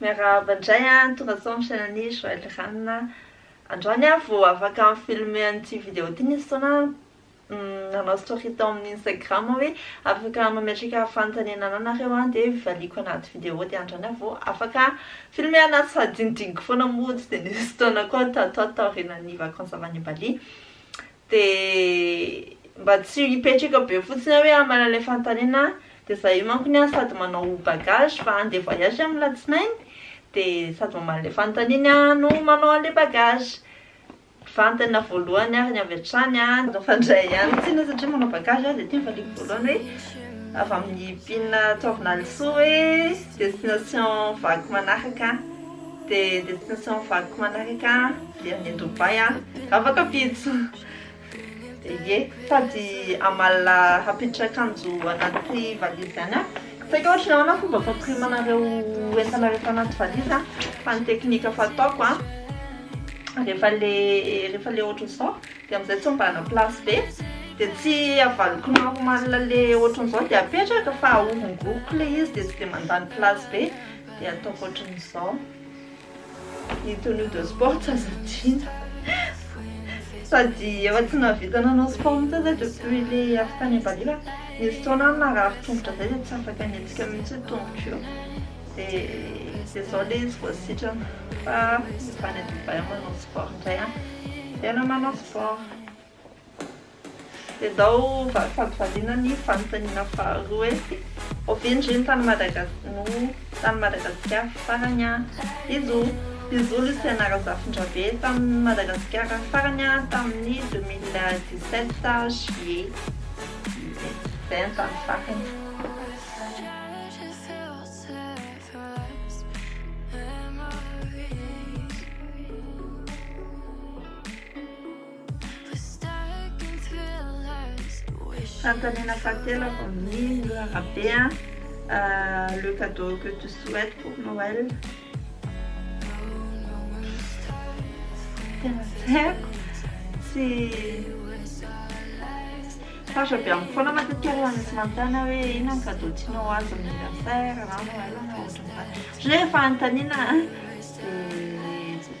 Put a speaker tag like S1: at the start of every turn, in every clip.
S1: Miarahaba
S2: indray an, tonga sao amin'ny chaîne an'i Joël Rana, androany aho vao afaka mi-filmer an'ity vidéo ity, nisy fotoana aho nanao story tao amin'ny Instagram aho hoe afaka mametraka fanontaniana anà nareo an, dia valiako anaty vidéo dia andrana aho vao afaka filmer anà tsy sady dinidiniko foana moa tsy dia nisy fotoana koa tato ato taorianan'ny vacances avy any Bali dia mba tsy hipetraka be fotsiny aho hoe hamala ilay fanontaniana dia za io mankony an sady manao bagage fa handeha voyage amin'ny latsinainy dia sady mamaly ilay fanontaniany an no manao an'ilay bagage Vantana voalohany ary ny avy hatrany an. Aza fandray ihany ny tsina satria manao bagage aho dia ity ny valiako voalohany hoe avy amin'ny pin Taovin'Alisoa hoe destination vaky manaraka dia destination vaky manaraka dia any Dubaï an, afaka ampitso ye, sady amalona hampiditra akanjo anaty valizy ihany an. Tsy haiko ohatry ny ahoana fomba fampirimanana ireo entana rehefa anaty valizy an, fa ny technique efa ataoko an, rehefa le rehefa le ohatry izao dia amin'izay tsy ombanana place be dia tsy avaliko normal le ohatry izao dia apetraka fa ahorongoroko le izy dia tsy dia mandany place be dia ataoko ohatry izao. Ny tenue de sport tsy azo adino. Sady efa tsy nahavita nanao sport mihitsy aho zay depuis le avy tany Ambalila. Nisy fotoana aho narary tongotra zay dia tsy afaka nihetsika mihitsy ny tongotro io. Dia izao ilay izy vao sitrana fa efa any Dubaï aho manao sport indray an. Tena manao sport. Endao valy fampivaliana ny fanontaniana faharoa hoe ovia ndry ny tany Madagas no tany Madagasikara farany a! Izo izo Luciana Razafindrabe tany Madagasikara farany a tamin'ny deux mille dix sept juillet izay ny tany farany. Fanontaniana fahatelo avy amin'ny Nora Rabe a, le cadeau que tu souhaites pour Noël? Tena tsy haiko, tsy sarotra be amiko foana matetika rehefa misy manontany ahy hoe inona ny cadeau tianao ho azy amin'ny anniversaire na Noël na ohatran'izany, satria rehefa anontaniana a dia.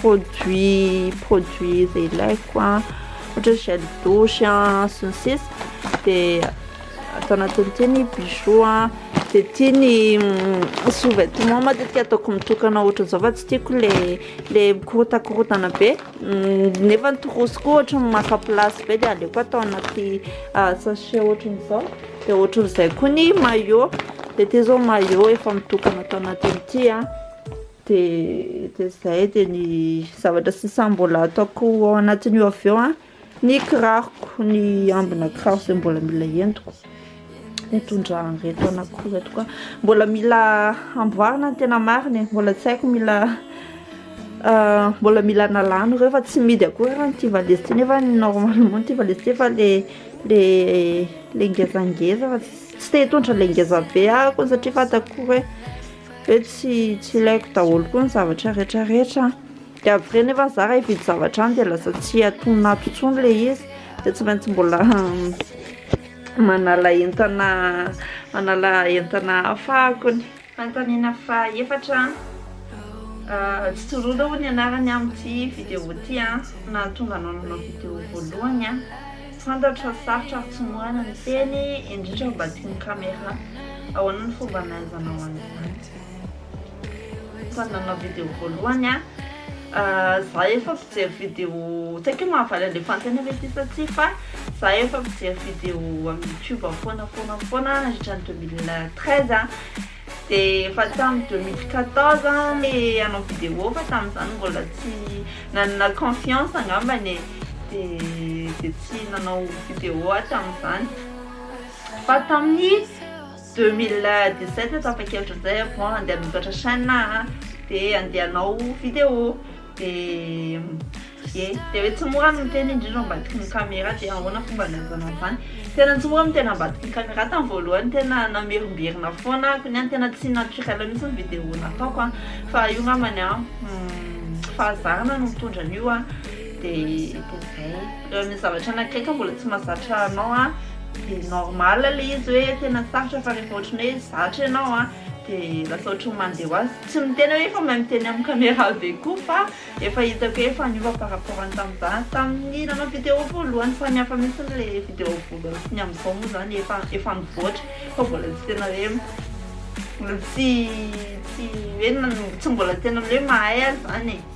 S2: Produit produit izay ilaiko a, ohatra hoe gel douche a sy ny sisa de ato anatin'ity ny bijoux a, de ity ny sous vêtements matetika ataoko mitokana ohatran'izao fa tsy tiako le le mikorontakorontana be nefa ny trousse koa ohatra maka place be de aleoko atao anaty sachet ohatran'izao. Dia ohatran'izay koa ny maillot. Dia ity izao maillot efa mitokana tao anatiny ity a. Dia dia izay dia ny zavatra sisa mbola ataoko ao anatin'io avy eo a. Ny kiraroko, ny ambina kiraro izay mbola mila entiko. Nitondra an'ireto anakiko ireto koa. Mbola mila amboarina ny tena marina e. Mbola tsy haiko mila mbola mila nalana ireo fa tsy mihidy akory ary ity valise ity nefa ny normalement ity valise ity efa le le le ngezangeza fa tsy te hitondra le ngeza be aho koa satria fantako koa hoe hoe tsy tsy ilaiko daholo koa ny zavatra rehetra rehetra an, de après nefa za raha hividy zavatra any de lasa tsy antonona ato intsony le izy de tsy maintsy mbola manala entana manala entana hafa akony. Fanontaniana faha efatra an, Tsororo aloha ny anarany amin'ity vidéo ity an, nahatonga anao nanao vidéo voalohany an, fantatro fa sarotra ary tsy mora ny miteny indrindra mba teo amin'ny caméra, ahoana ny fomba nahaizanao an'izany? Tany nanao vidéo voalohany an. Za efa mpijery vidéo tsy haiko hoe mahavaly anle fanontaniana ve ty sa tsia fa za efa mpijery vidéo am youtube foana foana foana nandritra ny deux mille treize an! de efa tam deux mille quatorze le hanao vidéo fa tamzany mbola tsy nanana confiance angambany e! de de tsy nanao vidéo aho tamzany fa tamin'ny 2017 no tapa-kevitra izay ah, bon andeha hanoratra chaîne ah, dia andeha hanao vidéo, dia ye, dia hoe tsy mora ny miteny indrindra ambadiky ny caméra, dia ahoana fomba hanaovana an'izany, tena tsy mora ny miteny ambadiky ny caméra, tamin'ny voalohany tena namerimberina foana aho, koa ny ahy tena tsy naturel mihintsy ny vidéo nataoko an, fa io angambany an, fahazarana no mitondra an'io an, dia dia izay. ny zavatra anankiray ka mbola tsy mazatra anao a de normal le izy hoe tena sarotra fa rehefa ohatry ny hoe zatra ianao a de lasa ohatry ny mandeha ho azy tsy miteny hoe efa mahay miteny amin'ny caméra be koa fa efa hitako hoe efa niova par rapport any tamin'ny za tamin'ny nanao vidéo voalohany samy hafa mihitsy le vidéo voalohany sy ny amin'izao moa zany efa efa mivoatra fa mbola tsy tena hoe mbola tsy tsy hoe tsy mbola tena hoe mahay azy zany e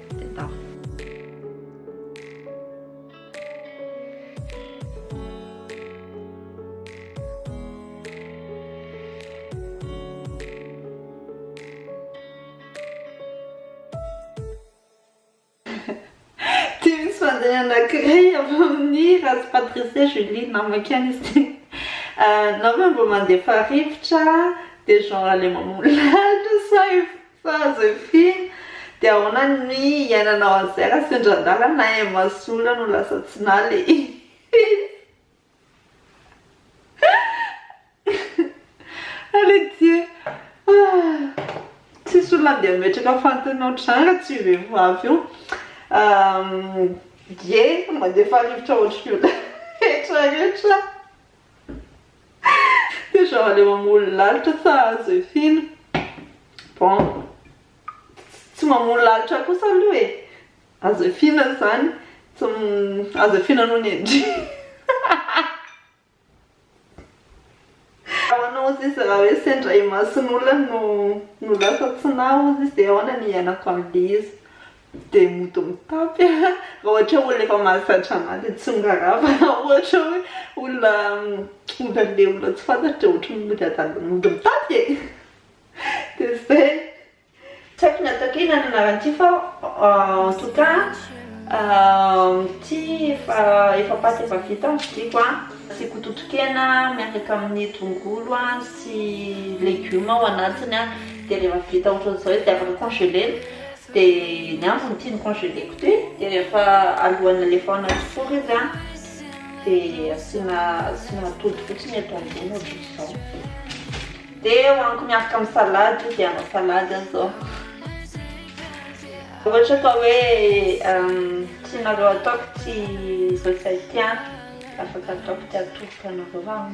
S2: anankiray avy amin'ny razy Patricia Julie namako ihany izy ity na hoe mba mandefa rivotra dia genre ilay mamono lalitra sa Fa Zefia, dia ahoana ny hiainanao an'izay raha sendra adala na Emma sy Ola no lasa tsy naly e? Hihihihihi. Allez Dieu ah. Tsisy olona andeha hametraka fantany ohatran'izany raha tsy io vehivavy io. Dieu mandefa rivotra ohatry ny olona rehetra rehetra. Dia zao aleo mamono lalitra fa azo efiana. Bon, tsy mamono lalitra kosa aloha e. Azo efiana izany, azo efiana noho ny endriny. Ho anao hozy izy raha hoe sendra imason'olona no lasa tsy naha hozy izy dia ahoana ny iainako amin'ilay izy. Dia mody mitapy a, raha ohatra olona efa mahazatra anà dia tsy miraharaha fa raha ohatra hoe olona olona olona tsy fantatro dia ohatry ny mody adala mody mitapy e! Dia izay. Tsy haiko ny ataoko inona ny anaran'ity fa en tout cas ity efa efa paty efa vita ny vidiako a, asiako totokena miaraka amin'ny tongolo a sy legioma ao anatiny a, dia rehefa vita ohatran'izao izy dia afaka congeler-na. Dia ny ambiny tiany congeleko ty dia rehefa alohan'ny alefaoana anaty four izy an dia asiana asiana atody fotsiny eto ambony ohatr'izao dia hohaniko miaraka amin'ny salade izy hanao salade aho zao ohatra ka hoe tsy nareo ataoko tsy izao tsy hay ty an afaka ataoko ty atodiko anareo an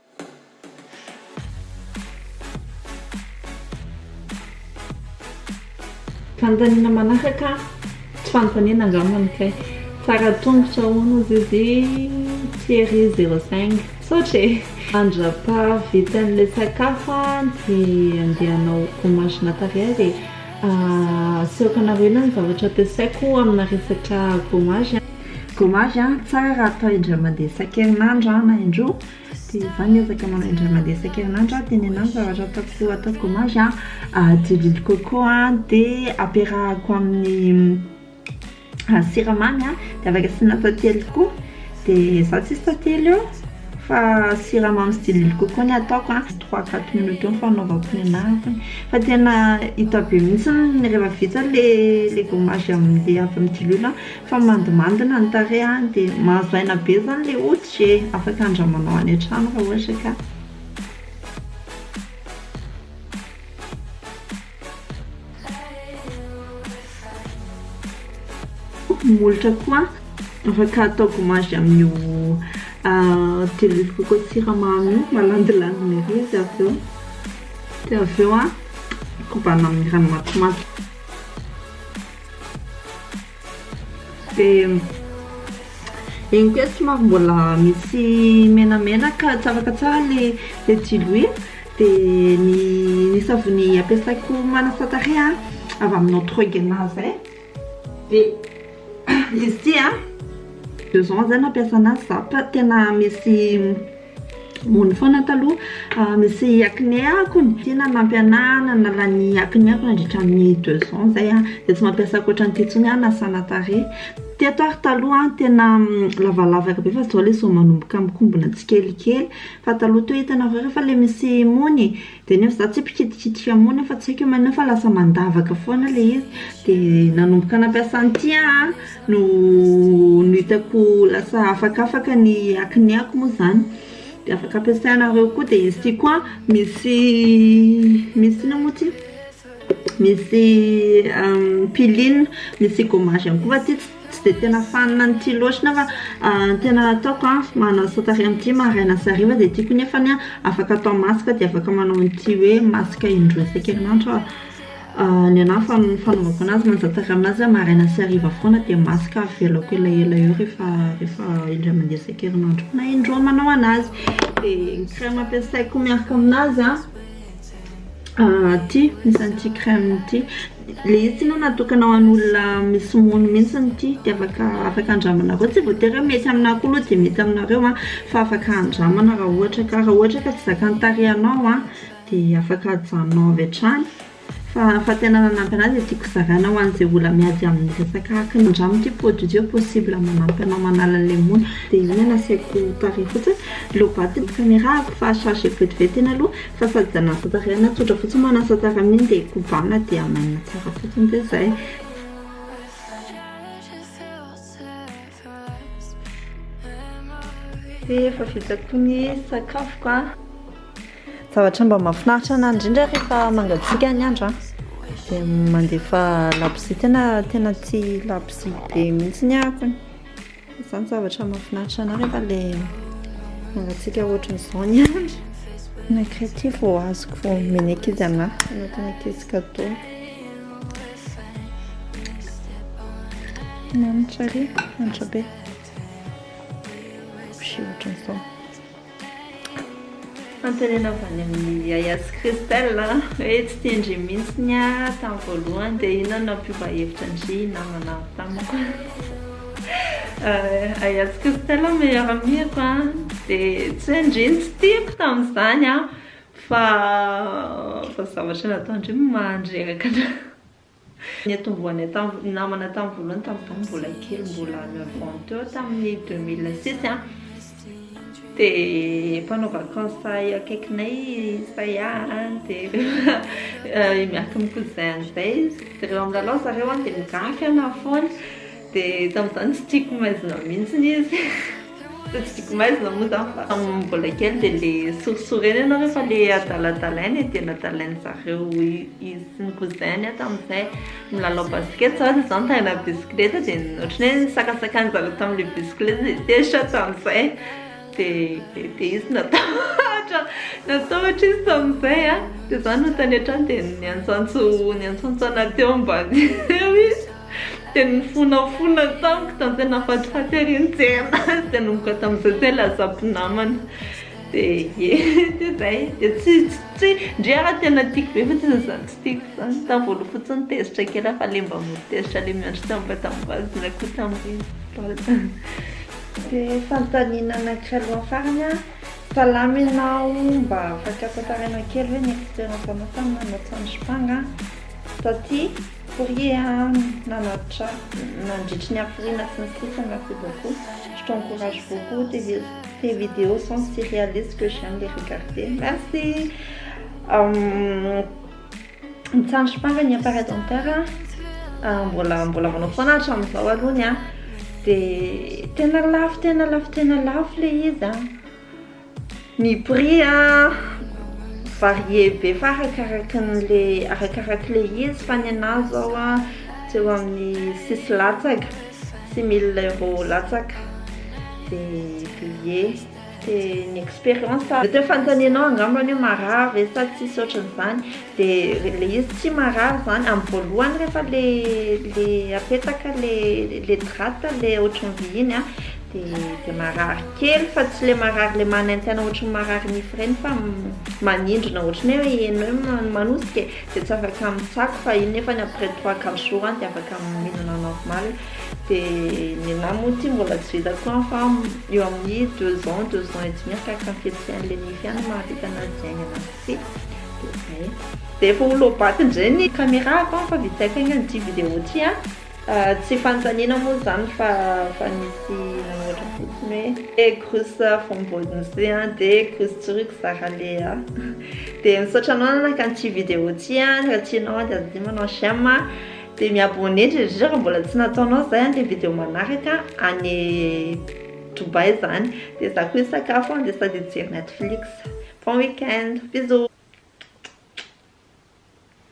S2: Fanontaniana manaraka, tsy fanontaniana angamba no kay, fara tongotra ahoana zay de Thierry zéro cinq, misaotra e! Mandrapa vita an'ilay sakafo an de andeha hanao gommage matériel e, asehoko anareo ela ny zavatra ampiasaiko amina resaka gommage an. Gommage an, tsara atao indray mandeha isan-kerinandro na indroa, Tsy za miezaka manao indray mandeha isan-kerinandro aho tenenano ny zavatra ataoko ataoko gommage a diloilo coco a dia ampiarahako amin'ny siramamy a dia avy eo asiana tantely koa dia za tsisy tantely eo fa siramamy sy diloilo coco no ataoko a trois quatre minutes eo ny fanaovako ny anahako fa tena hita be mihitsy rehefa vita ilay gommage avy amin'ny diloilo a Fa mandimandina ny tarehy an! Dia mahazo aina be zany le hoditra e! Afaka andramanao any an-trano raha ohatra ka! Ny molotra koa afaka atao gommage amin'io diluve coco siramamy io, malandilandina ery izy avy eo, dia avy eo kobana amin'ny rano matimaty. Dia eny koa somary mbola misy menamena ka tsy afaka tsara ilay ilay diloilo dia ny ny savony ampiasaiko manasa tarehy a avy aminà troegna zay dia izy ity a deux ans zay nampiasa anazy za fa tena misy Mony foana taloha misy acné ako ny tena nampianahana nala ny acné ako nandritra ny deux ans zay an dia tsy mampiasa ankoatra an'ity intsony aho hanasana tarehy teto ary taloha an tena lavalavaka be fa izao ilay zo manomboka mikombona tsikelikely fa taloha toa hitanareo rehefa ilay misy mony Dia nefa za tsy mpikitikitika hamona fa tsy haiko hoe manina fa lasa mandavaka foana ilay izy dia nanomboka nampiasa an'ity aho an, no no hitako lasa afakafaka ny hakiniako moa izany dia afaka ampiasainareo koa dia asiako an, misy misy inona moa ity? Misy piline, misy gommage ihany koa fa ity tsy dia tena fanina an'ity loatra nefa ny tena ataoko an, manasa tarehy amin'ity maraina sy hariva dia tiako nefany an, afaka atao masque dia afaka manao an'ity hoe masque indroa isan-kerinandro aho Ny anà ny fanaovako an'azy manasa tarehy amin'azy an, maraina sy hariva foana dia masque avelako elaela eo rehefa rehefa indray mandeha isan-kerinandro na indroa manao an'azy Dia ny crème ampiasaiko miaraka amin'azy an Ity isan'ny ity crème ity, le izy ity no natokana ho an'olona misy mony mintsy ity de afaka afaka andramana koa, tsy voatery hoe mety aminah koa aloha de mety aminareo an, fa afaka andramana raha ohatra ka, raha ohatra ka tsy zakan'ny tarehinao an de afaka ajanonao avy hatrany, fa fa tena nanampy anah de tiako zaraina ho an'izay olona miady amin'ny resaka akne, andramo ity produit ity hoe possible manampy anao manala an'ilay mony, de iny no nasiako tarehy fotsiny, low battery ny caméra-ko fa charge vetivety iny aloha. Fa sady zanaka tariana tsotra fotsiny manasa tsara miny dia kobana dia hamainina tsara fotsiny dia zay. Dia efa vita koa ny sakafoko a. Zavatra mba mahafinaritra anahy indrindra rehefa mangatsiaka ny andro a dia mandefa labozia tena tena tsy labozia be mihitsy ny ahy. Zany zavatra mahafinaritra anah rehefa le mangatsiaka ohatran'izao ny andro. Nankaitia vao azoko vao omena ankizy anah, anatin'ny ankizy cadeau. Manitra ery, manitra be. Sushi ohatran'izao. Fanontaniana avy any amin'ny Yaya sy Christelle a, hoe tsy tian-dry mihitsy ny ahy tamin'ny voalohany dia inona no nampiova hevitra an-dry namana tamiko. Yaya sy Christelle meilleur amie-ko a, dia tsy hoe ndry no tsy tiako tamin'izany an, fa fa zavatra nataon-dry no maha-nireraka an'ahy. Niantombohanay tamin'ny namana tamin'ny voalohany tamin'ny tamin'ny mbola kely mbola neuf ans teo tamin'ny deux mille six an, dia mpanao vacances sahy akaikinay sahy ahy an, dia miaraka amin'ny cousin an'izay izy, dia rehefa milalao zareo an dia migafy anafoana, Dia tamin'izany tsy tiako maizina mihitsy izy. Fa tsy tiako maizina moa izany fa tamin'ny mbola kely dia ilay sorisorena ianao rehefa ilay adaladalaina e, dia nadalain'ny zareo izy sy ny cousin-ny aho tamin'izay. Milalao basket izaho dia izaho nitaingina bisikileta dia ohatran'ny hoe nisakasakana an'i zareo tamin'ilay bisikileta dia tezitra aho tamin'izay. dia dia izy natahotra natahotra izy tamin'izay a dia za no tany an-trano dia niantsantso niantsantso ana teo ambany eo izy dia nifonafona tamiko tamin'izay nafatifaty ery nijery azy dia nanomboka tamin'izay zay lasa mpinamana dia ie dia izay dia tsy tsy ndry ara tena tiako be fa tsy izy izany tsy tiako izany tamin'ny voaloha fotsiny tezitra kely aho fa le mba mody tezitra le miandry tamim-batambazina koa tamin'ireny Dia fanontaniana anankiray alohan'ny farany an, salama ianao, mba afaka tantarainao kely ve ny experience anao tamin'ny nanao tsanjompanga an? Taty, fourrier an, nanatra nandritry ny hafiriana sy ny sisa merci beaucoup, je t'encourage beaucoup, tes videos sont si réalistes que j'aime les regarder, merci! Ny tsandry farany hiampara denter an, mbola mbola manao foana hatramin'izao aloha ny ahy. Dia tena lafo tena lafo tena lafo ilay izy an. Ny prix an, varié be fa arakaraka an'ilay arakaraka ilay izy fa ny an'ahy izao an, tsy eo amin'ny six latsaka, six mille euros latsaka dia payé. C'est ny expérience a. Mety hoe fanontanianao angamba ny hoe marary ve sa tsisy ohatran'izany dia ilay izy tsy marary izany amin'ny voalohany rehefa ilay apetaka ilay drap ilay ohatran'ny vy iny a dia marary kely fa tsy ilay marary ilay manaintaina ohatran'ny marary nify ireny fa manindrona ohatran'ny hoe enao no manosika e dia tsy afaka mitsako fa iny nefany après trois quatre jours any dia afaka mihinana normal. Dia ny anahy moa ity mbola tsy vita koa fa eo amin'ny deux ans, deux ans et demi arakaraka ny fihetsehan'ilay nify ihany no mahavita an'azy haingana sy tsia. Dia izay. Dia efa ho low-bat indray ny caméra-ko fa vitsy haiko haingana ity vidéo ity an. Tsy fanontaniana moa izany fa efa nisy nanohatra fotsiny hoe grus vao mbodo ny se an dia grus tsorik zara le a. Dia misaotra anao nanaka an'ity vidéo ity an, raha tianao an dia aza adino manao j'aime an. Dia mi-abonner ndry ndry raha mbola tsy nataonao izay an, dia video manaraka any Dubaï izany, dia za koa hisakafo an, dia sady hijery Netflix. Bon week-end, bisous.